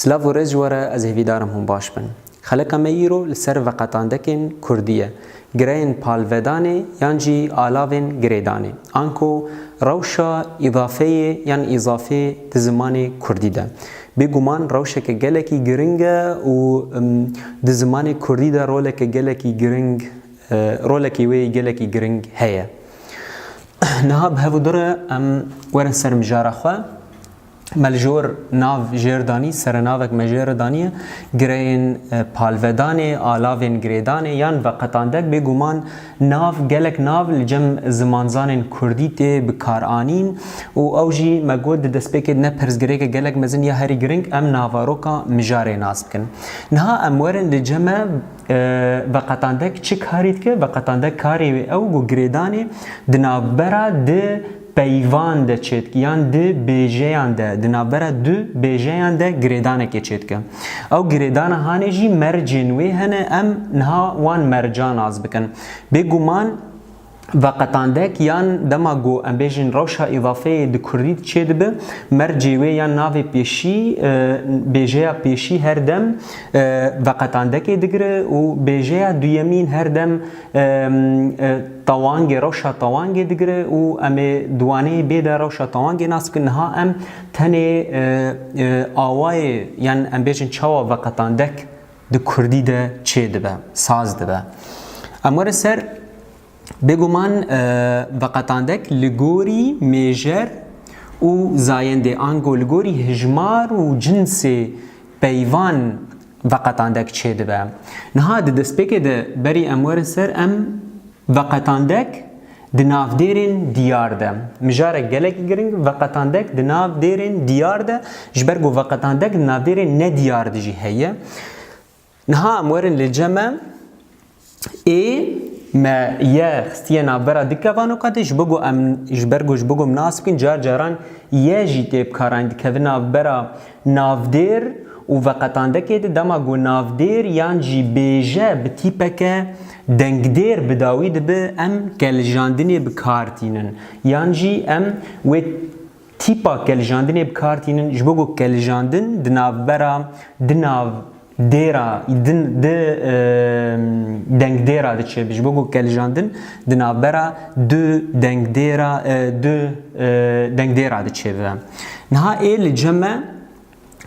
Silav û rêz ji we re ez hêvîdar im hûn baş bin. Xelika me îro li ser veqetandekên kurdî ye, gireyên palvedanê yan jî alavên girêdanê. Anko rewşa îdafeyê yan îzafê di zimanê kurdî de bê guman rewşeke gelekî giring e û di zimanê kurdî de roleke gelekî giring rolekê wê gelekî giring heye. Niha bi hev û dir e em werin ser mijara xwe Me li jor nav jêr danî, serenavek me jê re daniye, gireyên palvedanê, alavên girêdanê yan veqetandek bêguman nav gelek nav li cem zimanzanên kurdî tê bikaranîn û ew jî me got di destpêkê de ne pirsgirêke gelek mezin ya herî giring em navaroka mijarê nas bikin. Niha em werin li cem e Veqetandek çi karî dike? Veqetandek karê wê ew ku girêdanê di navbera du peyvan de çêdike yan du bêjeyan de, di navbera du bêjeyan de girêdanekê çêdike. Ew girêdana hanê jî mercên wê hene em niha wan merca nas bikin. Bêguman Veqetandek yan dema ku em bêjin rewşa îdafeyê di kurdî de çê dibe, mercê wê yan navê pêşî, bêjeya pêşî her dem veqetandekê digire û bêjeya duyemîn her dem tewangê, rewşa tewangê digire û em ê di waneyê bê de rewşa tewangê nas bikin. Niha em tenê awayê yan em bêjin çawa veqetandek di kurdî de çê dibe, saz dibe. Em were ser bêguman veqetandek li gorî mêjer û zayendê ango li gorî hijmar û cinsê peyvan veqetandek çê dibe. Niha di destpêkê de berî em were ser em Veqetandek di navdêrên diyar de. Mijarek gelekî giring, veqetandek di nav dêrên diyar de, ji ber ku veqetandek di navdêrên ne diyar de jî heye. Niha em werin li ce me ê me ye xistiye navbera di kevanoka de ji bo ku em ji ber ku ji bo ku em nas bikin car caran ye jî tê bikaranîn dikevin navbera Navdêr û veqetandekê di dema ku navdêr yan jî bêje bi tîpeke dengdêr bi dawî dibi em kelijandinê bi kar tînin yan jî em wê tîpa kelijandinê bi kar tînin ji bo ku kelijandin di navbera di nav Dêra, din di dengdêra diçe bi ji bo ku kelijandin di navbera du dengdêra du dengdêra diçe bi. Niha ê li cem e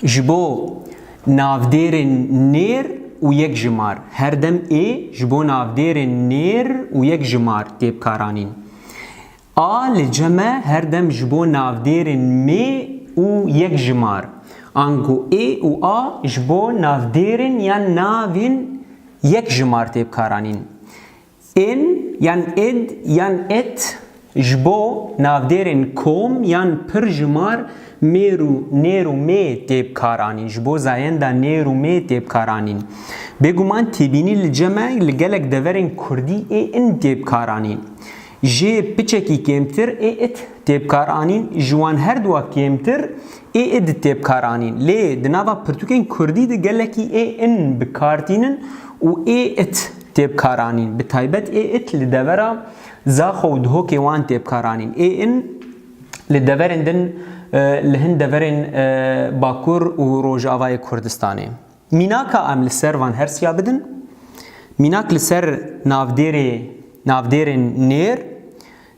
ji bo navdêrên nêr û yekjimar. Her dem ê ji bo navdêrên nêr û yekjimar tê bikaranîn. A li ce me her dem ji bo navdêrên mê û yek jimar, ango ê û a ji bo navdêrên yan navên yek jimar tê bikaranîn. Ên yan id yan it ji bo navdêrên kom yan pir jimar mêr û nêr û mê tê bikaranîn, ji bo zayenda nêr û mê tê bikaranîn. Bêguman têbînî li ce me li gelek deverên kurdî ê in tê bikaranîn. Jê piçekî kêmtir ê it tê bikar anîn, ji wan her du a kêmtir ê id tê bikar anîn. Lê di nava pirtûkên kurdî de gelekî ê in bi kar tînin û ê it tê bikar anîn. Bi taybet ê it li devera Zaxo û Dihokê wan tê bikar anîn. Ê in li deverên din li hin deverên Bakur û Rojavayê Kurdistanê. Mînaka em li ser van hersiya bidin, mînak li ser navdêrê, navdêrên nêr,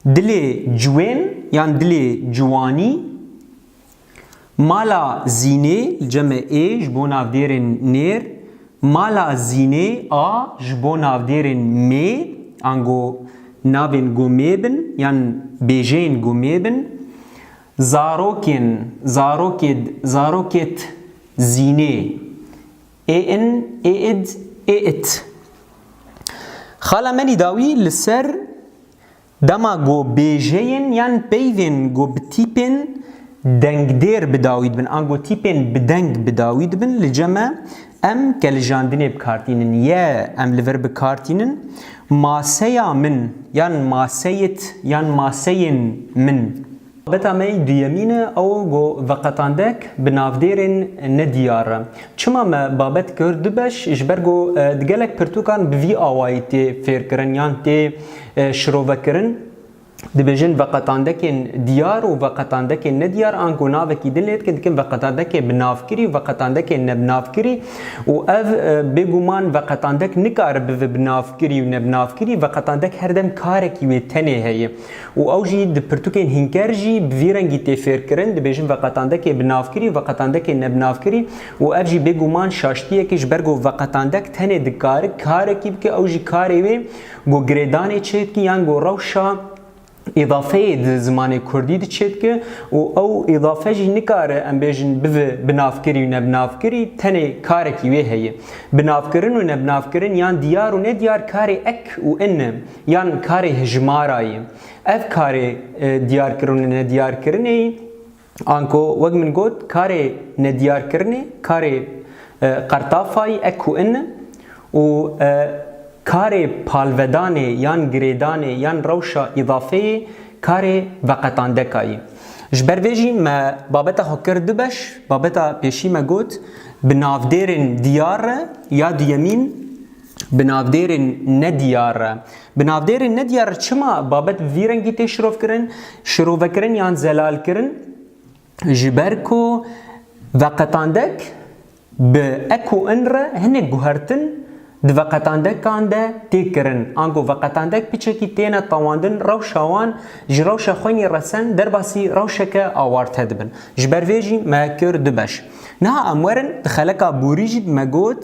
dilê ciwên yan dilê ciwanî, mala zînê, li ceme ê ji bo navdêrên nêr, mala zînê a ji bo navdêrên mê, ango navên gomê bin yan bêjeyên gomê bin, Zarokên, zarokêd, zarokêt, zînê. Ê in, ê id, ê it. Xala Melî dawî li ser dema ku bêjeyên yan peyvên ku bi tîpên dengdêr bi dawî dibin an ku tîpên bi deng bi dawî dibin li cem e, Em qelijandinê bi kar tînin, ye em li vir bi kar tînin, maseya min yan maseyit yan maseyên min. Beta me yî duyemîn e, ew go veqetandek bi navdêrên nediyar. Çima me babet kir du beş ji ber go di gelek pirtûkan bi vî awayî tê fêrkirin yan tê şirovekirin. Dibêjin veqetandekên diyar û veqetandekên nediyar ango navekî din lê dikin dikin veqetandekê bi navkirî û veqetandekê ne bi navkirî û ev bêguman veqetandek nikare bive bi navkirî û ne bi navkirî veqetandek her dem karekî wê tenê heye û ew jî di pirtûkên hînker jî bi vî rengî tê fêrkirin dibêjin veqetandekê bi navkirî û veqetandekê ne bi navkirî û ev jî bêguman şaştiyek e ji ber ku veqetandek tenê dikare karekî bike ew jî karê wê Ku girêdanê çêdike yan ku rewşa îdafeyê di zimanê kurdî de çêdike û ew îdafe jî nikare em bêjin bive binavkirî û nebinavkirî tenê karekî wê heye. Binavkirin û nebinavkirin yan diyar û nediyar karê ek û in e yan karê hijmara ye. Ev karê diyarkirin û nediyarkirinê Anko wek min got karê nediyarkirinê karê qertafayî e ku in û karê palvedanê yan girêdanê yan rewşa îdafeyê karê veqetandeka yî. Ji ber vê jî me babeta xwe kir du beş, babeta pêşî me got bi navdêrên diyar re ya duyemîn, Bi navdêrên nediyar re. Bi navdêrên nediyar re çima babet bi vî rengî tê şirovkirin, şirovekirin yan zelalkirin? Ji ber ku veqetandek bi ek û in re hinek guhertin di veqetandekan de tê kirin. Ango veqetandek piçekî têne tewandin rewşa wan ji rewşa xwenî resen derbasî rewşeke awarte dibin. Ji ber vê jî me kir du beş. Niha em werin di xeleka borî jî me got,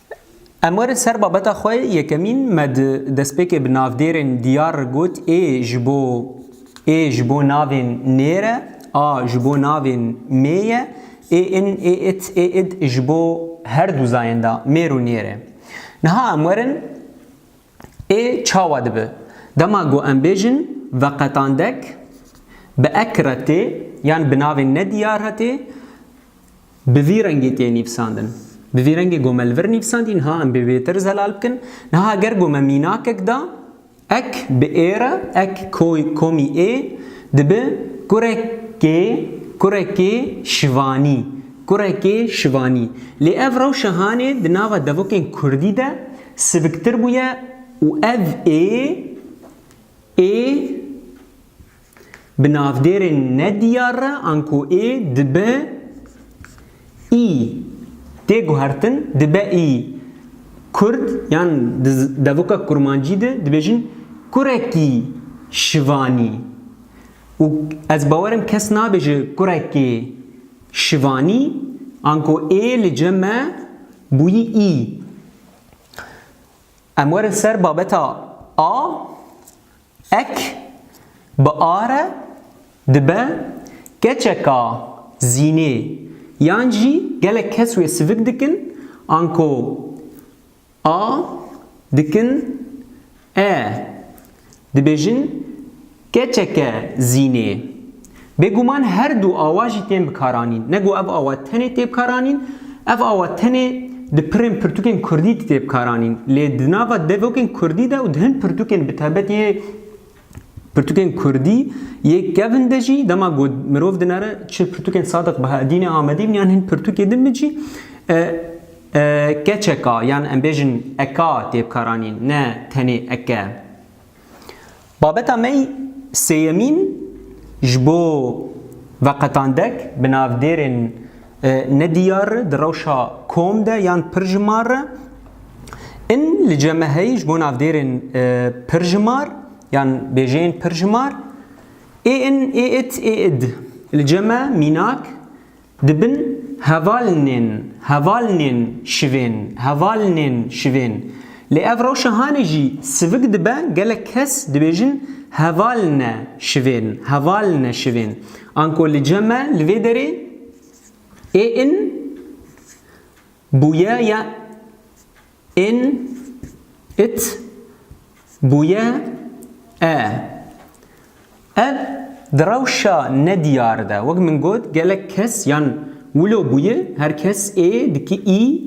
Em werin ser babeta xwe yekemîn me di destpêkê bi navdêrên diyar got ê ji bo ê ji bo navên nêr e, a ji bo navên mê ye, ê in, ê it, ê id ji bo her du zayên de mêr û nêr e. Niha em werin ê çawa dibe? Dema ku em bêjin veqetandek bi ek re tê yan bi navên nediyar re tê, Bi vî rengê tê nîvsandin. Bi vî rengê gome li vir nîvsandî, niha em bê wêtir zelal bikin. Niha ger gome mînakek da, ek bi ê re, ek koy, komî ê, dibe kurekê, kurekê şivanî, kurekê şivanî. Lê ev rewşa hanê di nava devokên kurdî de siviktir bûye û ev ê, ê, bi navdêrên nediyar re anko ê dibe î. Tê guhertin dibe î. Kurd yan di devoka kurmancî de dibêjin kurekî şivanî û ez bawer im kes nabêje kurekê şivanî anko ê li cem e bûyî î. Em werin ser babeta a. Ek, bi a re dibe keçeka zînê yan jî gelek kes wê sivik dikin, anko a dikin e, dibêjin keçeke zînê. Bêguman her du awa jî tên bikaranîn. Ne ku ev awa tenê tê bikaranîn, ev awa tenê di pirên pirtûkên kurdî de tê bikaranîn. Lê di nava devokên kurdî de û di hin pirtûkên bi taybetî yê pirtûkên kurdî yê kevn de jî dema ku mirov dinere çi pirtûkên Sadiq Bahaedînê Amedî bin yan hin pirtûkê din bin jî keçeka yan em bêjin eka tê bikaranîn ne tenê eke. Babeta me yî sêyemîn ji bo veqetandek bi navdêrên ne diyar re di rewşa kom de yan pir ji mar re in li cem e heyî ji bo navdêrên pir ji mar yan bêjeyên pir ji mar ê in ê it ê id. Li cem e mînak Di bin hevalnên, hevalnên şivên, hevalnên şivên. Lê ev rewşa hanê jî sivik dibe, gelek kes dibêjin hevalne şivên, hevalne şivên. Anko li ce me li vê derê ê in bûye ya In, it, bûye, e. Ev di rewşa nediyar de wek min got gelek kes yan wilo bûye her kes ê diki î,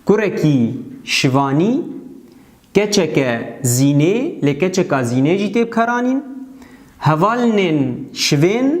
kurekî şivanî, keçeke zînê lê keçeka zînê jî tê bikaranîn, hevalinên şivên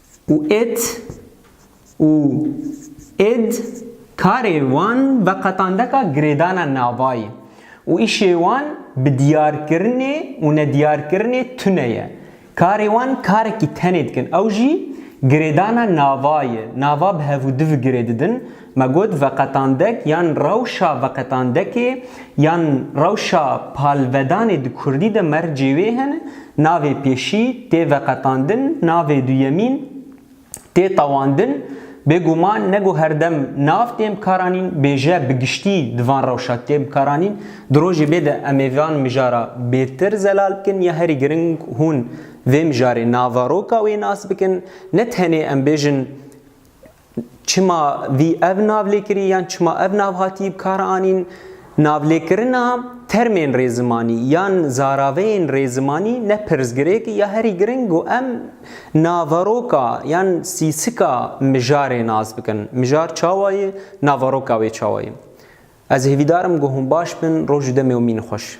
û it û id karê wan veqetandeka girêdana navayî û îşê wan bi diyarkirinê û nediyarkirinê tune ye. Karê wan karekî tenê dikin ew jî girêdana navayê, nava bi hevû di vigirêdidin, Me got veqetandek yan rewşa veqetandekê yan rewşa palvedanê di kurdî de mercê wê hene, navê pêşî tê veqetandin, navê duyemîn tê tewandin. Bêguman ne ku her dem nav tên bikaranîn, bêje bi giştî di van rewşa tê bikaranîn. Di rojê bê de em ê van mijara bêtir zelal bikin ya herî giring hûn vê mijarê naveroka wê nas bikin. Ne tenê em bêjin Çima vî ev nav lê kirî yan çima ev nav hatî bi kar anîn? Navlêkirina termên rêzimanî yan zaraveyên rêzimanî ne pirsgirêk e ya herî giring ku em naveroka yan sîsika mijarê nas bikin. Mijar çawa ye? Naveroka wê çawa ye? Ez hêvîdar im ku hûn baş bin. Roj û demê wan mîn xweş.